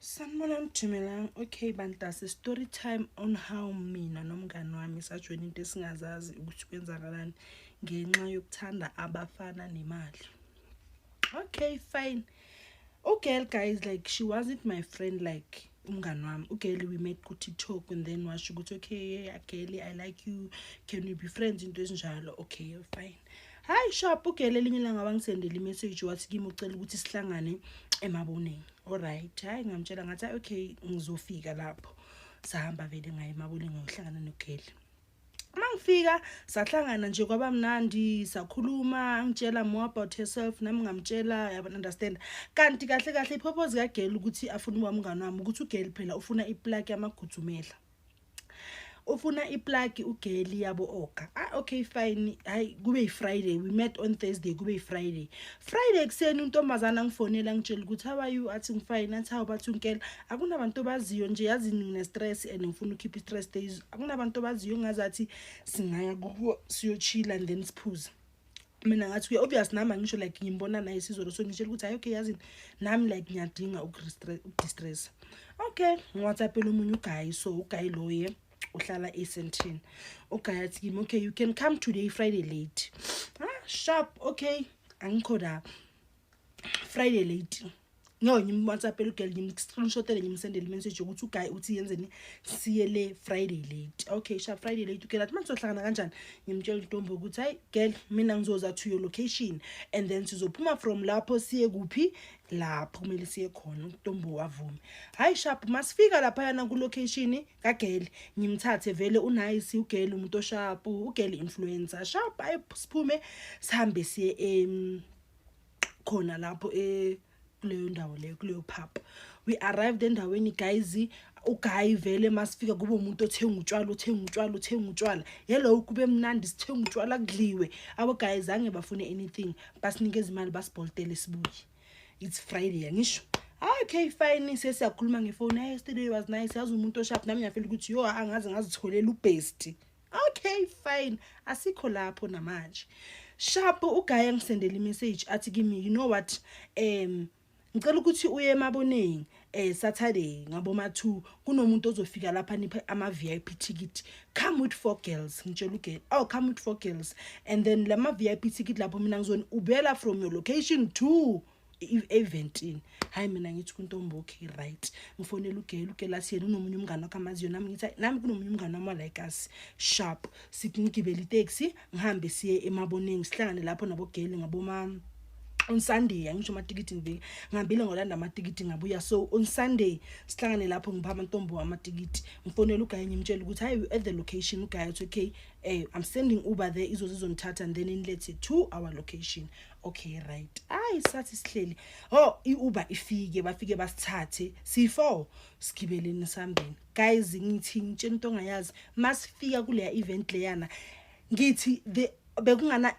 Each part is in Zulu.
sanibona nijimelang okay bantase story time on how mina nomngani wami sajoyina into esingazazi ukuthi kwenzakalani ngenxa yokuthanda abafana nemali okay fine ugirl guys like she wasn't my friend like umngani wami ugeli we met ku-tiktok and then washo ukuthi okay ageli i like you can we be friends into ezinjalo okay fine hayi shop ugeli elinye ilanga wangisendela imessage wathi kimi ucela ukuthi sihlangane emaboneni allright hayi ngamtshela ngathi okay ngizofika lapho sahamba vele ngaye emaboneni ngayohlangana nogeli mangifika sahlangana nje kwaba mnandi sakhuluma angitshela more about herself nami ngamtshela yabo understand kanti kahle kahle ipurpose ka girl ukuthi afune uba umngane wami ukuthi u girl phela ufuna i plug yamagudzumela ufuna iplug ugeli yabo oka ah okay fine hayi kube yifriday we met on thursday kube yifriday friday kuseni untombazana ngifonela ngitshela ukuthi how are you athi ngifine athi how bathi unkela akunabantu obaziyo nje yazi ngine-stress and ngifuna ukhipha i-stress days akunabantu obaziyo ngazathi singaya kubo siyochila and then siphuze mina ngathi kuye obvious nami angisho like ngimbona naye sizolo so ngitshela ukuthi hayi okay yazini nami like ngiyadinga ukudistressa okay ngiwhatsappela omunye ugayi so ugayi loye uhlala esentini ugayi athi kimi okay you can come today friday late ah sharp okay angikho la friday late no ngimwhatsappele ugirl ngimscreenshotele ngimsendele imessage yokuthi uguy uthi yenzeni siye le friday late okay sha friday late ugirl athi manje sohlangana kanjani ngimtshela intombi ukuthi hayi girl mina ngizoza to your location and then sizophuma from lapho siye kuphi lapho kumele siye khona intombi wavume hayi sharp masifika lapha yana ku location ka girl ngimthathe vele unice ugirl umuntu osharp ugirl influencer sharp ayiphume sihambe siye em um, khona lapho e kuleyo ndawo leyo kuleyo pub we arrived endaweni guys ugayi vele masifika kube umuntu othenga utshwala uthenga utshwala uthenga utshwala hello kube mnandi sithenga utshwala kudliwe abo gayi zange bafune anything basinikeza imali basibholtele sibuye it's friday angisho ah, okay fine sesiyakhuluma ngefoni hey yesterday was nice yazi umuntu oshaphi nami ngiyafela ukuthi yo angaze ngazitholela ubhesti okay fine asikho lapho namanje sharp ugaye engisendele imessage athi kimi you know what um ngicela ukuthi uye emaboneni eh Saturday ngaboma 2 kunomuntu ozofika lapha niphe ama VIP ticket come with four girls ngitshela ugirl oh come with four girls and then lama VIP ticket lapho mina ngizoni ubela from your location to eventini hayi mina ngithi kuntombi okay right ngifonela ugela ugela athi yena unomunye umngane wakho amaziyo nami ngithi nami kunomunye umngane wami walayikasi sharp singigibela iteksi ngihambe siye emaboneni sihlangane lapho nabogeli ngaboma on sunday angisho amatikiti ngivike ngihambile ngolanda amatikiti ngabuya so on sunday sihlangane lapho ngipha amantombo amatikiti ngifonela ugaye ngimtshela ukuthi hayi at the location ugaye uthi okay eh, i'm sending uber there izozizongithatha and then inilethe to our location okay right ayi sathi sihleli oh iuber ifike bafike basithathe si4 sigibeleni sambeni guys ngithi ngitshela into ongayazi masifika kuleya event leyana ngithi the bekungana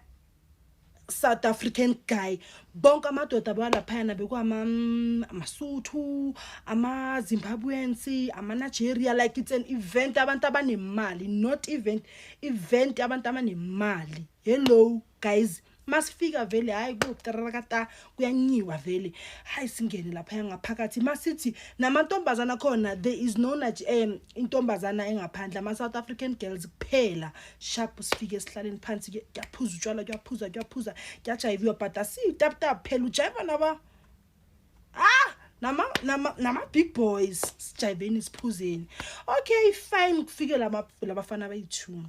South African guy bonke amadoda balaphayana bekwama mm, amasuthu ama Zimbabweans ama Nigeria like it's an event abantu abanemali not event event abantu abanemali hello guys masifika vele hayi kuyoqarakata kuyanyiwa vele hayi singene lapha yangaphakathi masithi namantombazana khona there is no naj um intombazana engaphandle ama-south african girls kuphela sharp sifike esihlaleni phansi kuyaphuza utshwala kuyaphuza kuyaphuza kuyajayiviwa but asiyitaputap phela ujayiva naba ah nama nama nama big boys sijayiveni siphuzeni okay fine kufike lama labafana abayi-two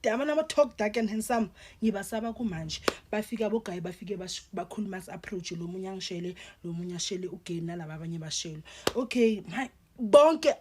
dama nama talk dark and handsome ngibasaba kumanje bafika bogayi bafike bakhuluma as approach lo munye angishele lo munye ashele ugeni nalaba abanye bashele okay my bonke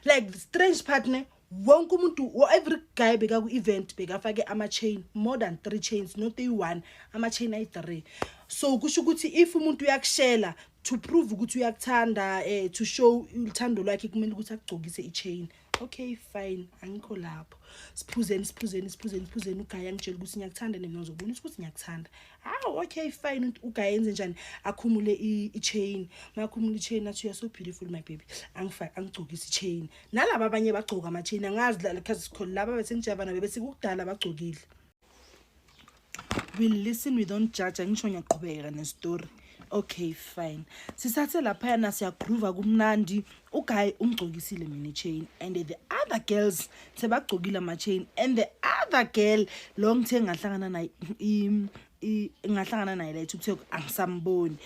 like the strange partner wonke umuntu every guy beka ku event bekafake ama chain more than 3 chains not a one ama chain ayi 3 so kusho ukuthi if umuntu uyakushela to prove ukuthi uyakuthanda eh to show uthando lwakhe kumele ukuthi akugcokise i chain okay fine angikho lapho siphuzeni siphuzeni siphuzeni siphuzeni ugaya angitshela ukuthi ngiyakuthanda nina uzobonisa ukuthi ngiyakuthanda hawu okay fine ugaya enze njani akhumule i-chain makhumule i-chain athi you're so beautiful my baby angifake angigcokise i-chain nalaba abanye bagcoka ama-chain angazi because laba besengijava nabo besikukudala bagcokile we listen we don't judge angisho ngiyaqhubeka nestory okay fine sisathe laphayana siyagroova kumnandi uguy umgcokisile mina chain and the other girls sebagcokile ama-chain and the other girl lo ngithe ngahlangana naye ngahlangana naye la ethukuthe angisamboni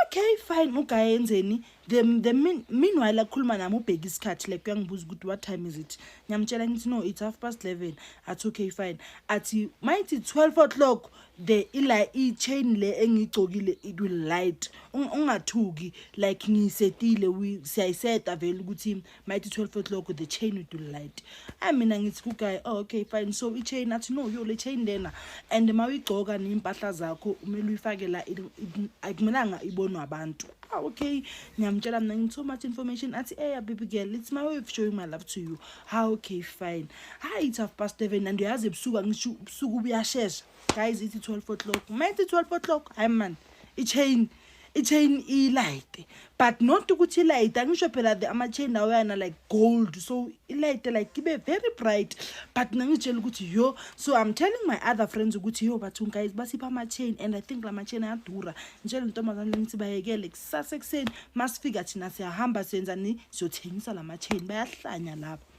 okay fine uguy enzeni the, the mean, meanwhile akhuluma nami ubheke isikhathi like uyangibuza ukuthi what time is it ngiyamtshela ngithi no it's half past 11 athi okay fine athi mayithi 12 o'clock the ila i-chain le engiyigcokile it will light ungathuki like ngiyisetile siyayiseta vele ukuthi mayithi 12 o'clock the chain will do light ayi mina ngithi kuguy oh, okay fine so i-chain athi no yo le chain lena and ma uyigcoka ney'mpahla zakho kumele uyifake la akumelanga ibonwe abantu ah, okay ngiyamtshela mna ngithi so much information athi eya baby girl it's my way of showing my love to you ha ah, okay fine hayi it's half past seven and uyazi ebusuku angisho ubusuku buyashesha guys ithi 12 o'clock mayithi 12 o'clock hayi mani i-chain i-chain ilayite but not ukuthi ilayite angisho phela the ama-chain lawo yana like gold so ilayite like ibe very bright but ngangitshela ukuthi yo so i'm telling my other friends ukuthi yo bathu guys basipha ama-chain and i think la ma-chain ayadura ngitshela intombazane ngithi bayekele kusasa ekuseni masifika thina siyahamba siyenzani siyothengisa la ma-chain bayahlanya laba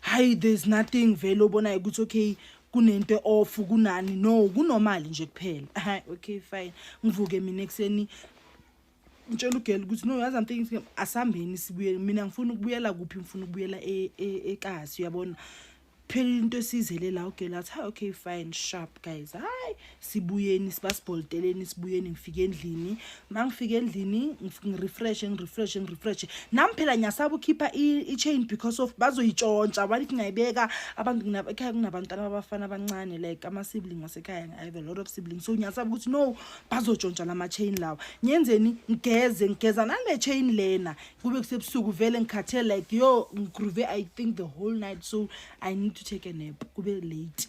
hayi there's nothing vele obonayo ukuthi okay kunento off kunani no kunomali nje kuphela hayi okay fine ngivuke mina ekseni ngitshela ugela ukuthi no yazi amthinking asambeni sibuye mina ngifuna ukubuyela kuphi ngifuna ukubuyela e, e, ekasi uyabona phela into esizele la ugela athi hayi okay fine sharp guys hayi sibuyeni sibasibholiteleni sibuyeni ngifike endlini uma ngifike endlini ngirefreshe ngirefreshe ngirefreshe nami phela ngiyasaba ukhipha i-chain because of bazoyitshontsha abantu ngingayibeka abantu ekhaya kunabantwana babafana abancane like ama-sibling wasekhaya i have a lot of sibling so ngiyasaba ukuthi no bazotshontsha la ma-chain lawa ngiyenzeni ngigeze ngigeza nale chain lena kube kusebusuku vele ngikhathele like yo ngigroove i think the whole night so i need to take a nap kube late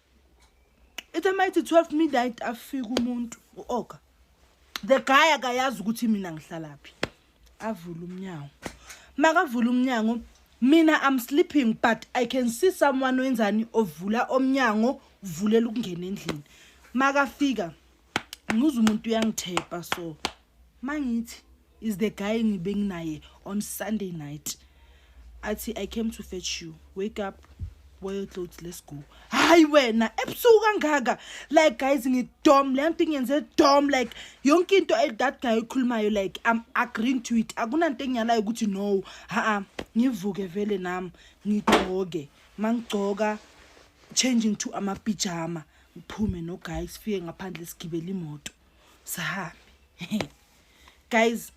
ithe mayithi 12 midnight afika umuntu u-oka the guy akayazi ukuthi mina ngihlalaphi avula umnyango makavula umnyango mina i'm sleeping but i can see someone wenzani ovula omnyango uvulela ukungena endlini makafika ngibuza umuntu uyangithepa so mangithi is the guy ngibe nginaye on sunday night athi i came to fetch you wake up wear your clothes let's go hayi wena ebusuku kangaka like guys ngidom le nto ingenze dom like yonke into that guy oyikhulumayo like i'm agreeing to it akunanto engiyalayo ukuthi no ha-a ngivuke vele nami ngigcoke mangigcoka changing to amapijama ngiphume no guys sifike ngaphandle sigibele imoto sihambe guys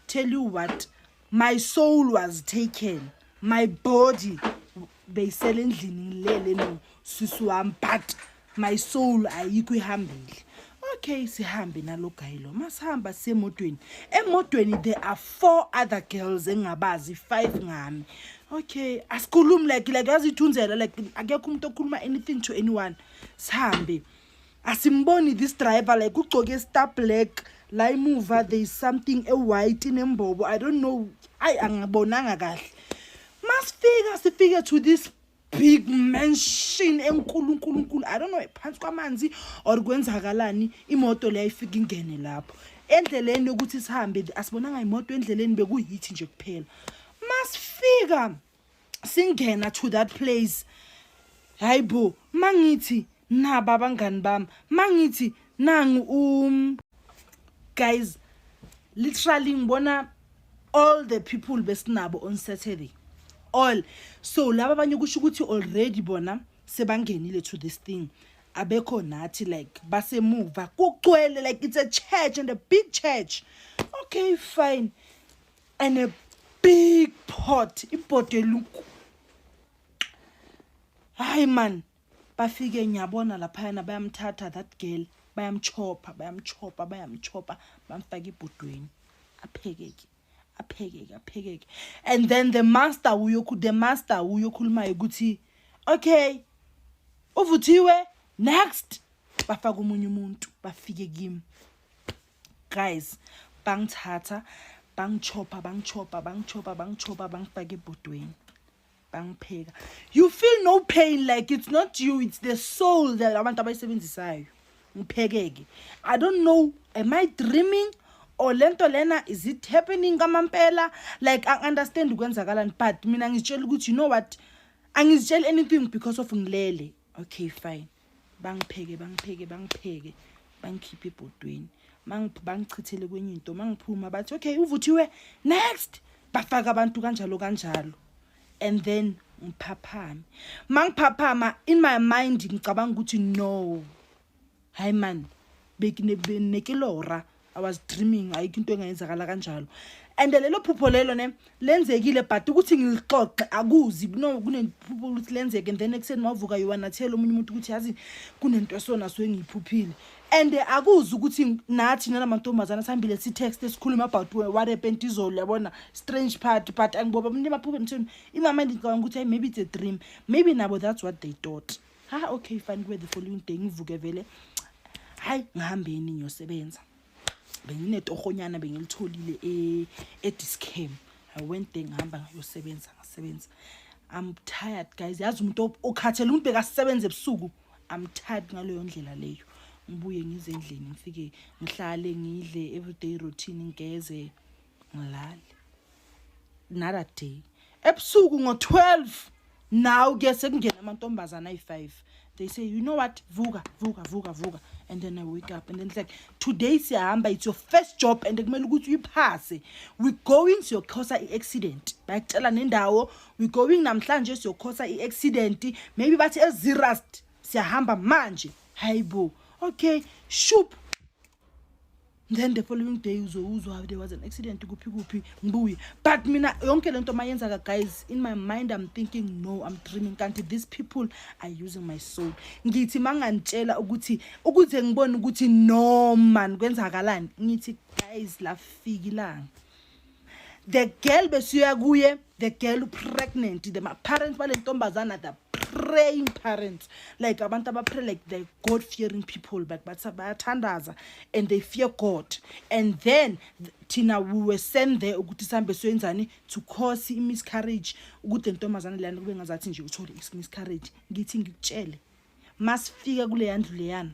tell you what my soul was taken my body beyisele endlini ngilele no sisi wami but my soul ayikho ihambile okay sihambe nalo guy lo masihamba sisemotweni emotweni there are four other girls engingabazi five ngami okay asikhulumi like like yazithunzela like akekho umuntu okhuluma anything to anyone sihambe asimboni this driver like ugcoke star black la imuva there is something ewhite inembobo i don't know ayi angibonanga kahle masifika sifike to this big mansion enkulu nkulu nkulu i don't know phansi kwamanzi or kwenzakalani imoto leyo ifika ingene lapho endleleni yokuthi sihambe asibonanga imoto endleleni bekuyithi nje kuphela masifika singena to that place hayibo mangithi naba abangani bami mangithi nangu um guys literally ngibona all the people besinabo on saturday all so laba abanye kusho ukuthi already bona sebangenile to this thing abekho nathi like basemuva kugcwele like it's a church and a big church okay fine and a big pot ibhodo eluku hayi man bafike ngiyabona laphayana bayamthatha that girl bayamchopha bayamchopha bayamchopha bamfaka ibhodweni aphekeke aphekeke aphekeke and then the master uyokhu the master uyokhulumayo ukuthi okay uvuthiwe next bafaka umunye umuntu bafike kimi guys bangithatha bangichopha bangichopha bangichopha bangichopha bangifaka ebhodweni bangipheka you feel no pain like it's not you it's the soul that abantu abayisebenzisayo ngiphekeke i don't know am i dreaming or lento lena is it happening kamampela like i understand ukwenzakalani but mina ngizitshela ukuthi you know what angizitsheli anything because of ngilele okay fine bangipheke bangipheke bangipheke bangikhiphe ebhodweni bangichithele kwenye into mangiphuma bathi okay uvuthiwe next bafaka abantu kanjalo kanjalo and then ngiphaphame mangiphaphama in my mind ngicabanga ukuthi no hayi man bekinekilora i was dreaming ayikho into engayenzakala kanjalo and lelo phupho lelo ne lenzekile but ukuthi ngilixoxe akuzi no kunephupho ukuthi lenzeke and then ekuseni wavuka yiwa nathela omunye umuntu ukuthi yazi kunento esona so engiyiphuphile and akuzi ukuthi nathi nalamantombazana sihambile si text esikhuluma about what happened izolo yabona strange part but angiboba umuntu emaphuphe mthini imama ndicabanga ukuthi maybe it's a dream maybe nabo that's what they thought ha okay fine kube the following day ngivuke vele hayi ngihambeni ngiyosebenza benginetohonyana bengilitholile e, ediscam i went there ngihamba ngayosebenza ngasebenza i'm tired guys yazi umuntu okhathele umuntu bekasebenza ebusuku i'm tired ngaleyo ndlela leyo ngibuye ngize endlini ngifike ngihlale ngidle everyday routine ngigeze ngilale another day ebusuku ngo-12 naw ke sekungena amantombazana ayi-5 they say you know what vuka vuka vuka vuka and then i wake up and then it's like today siyahamba it's your first job and kumele ukuthi uyiphase we going siyokhosa i-accident bayakutshela nendawo we going namhlanje siyokhosa i-accident maybe bathi ezirust siyahamba manje hayibo okay shup then the following day uzowuzwa there was an accident kuphi kuphi ngibuye but mina yonke le nto mayenzaka guys in my mind i'm thinking no i'm dreaming kanti these people are using my soul ngithi mangangitshela ukuthi ukuze ngibone ukuthi no man kwenzakalani ngithi guys lafika ilanga the girl besiyoya kuye the girl pregnant the parents bale ntombazana the praying parents like abantu abapray like the god fearing people but bathi bayathandaza and they fear god and then thina we were sent there ukuthi sihambe soyenzani to cause i-miscarriage ukuthi ntombazane leyana kube ngazathi nje uthole i-miscarriage ngithi ngikutshele masifika kuleya ndlu leyana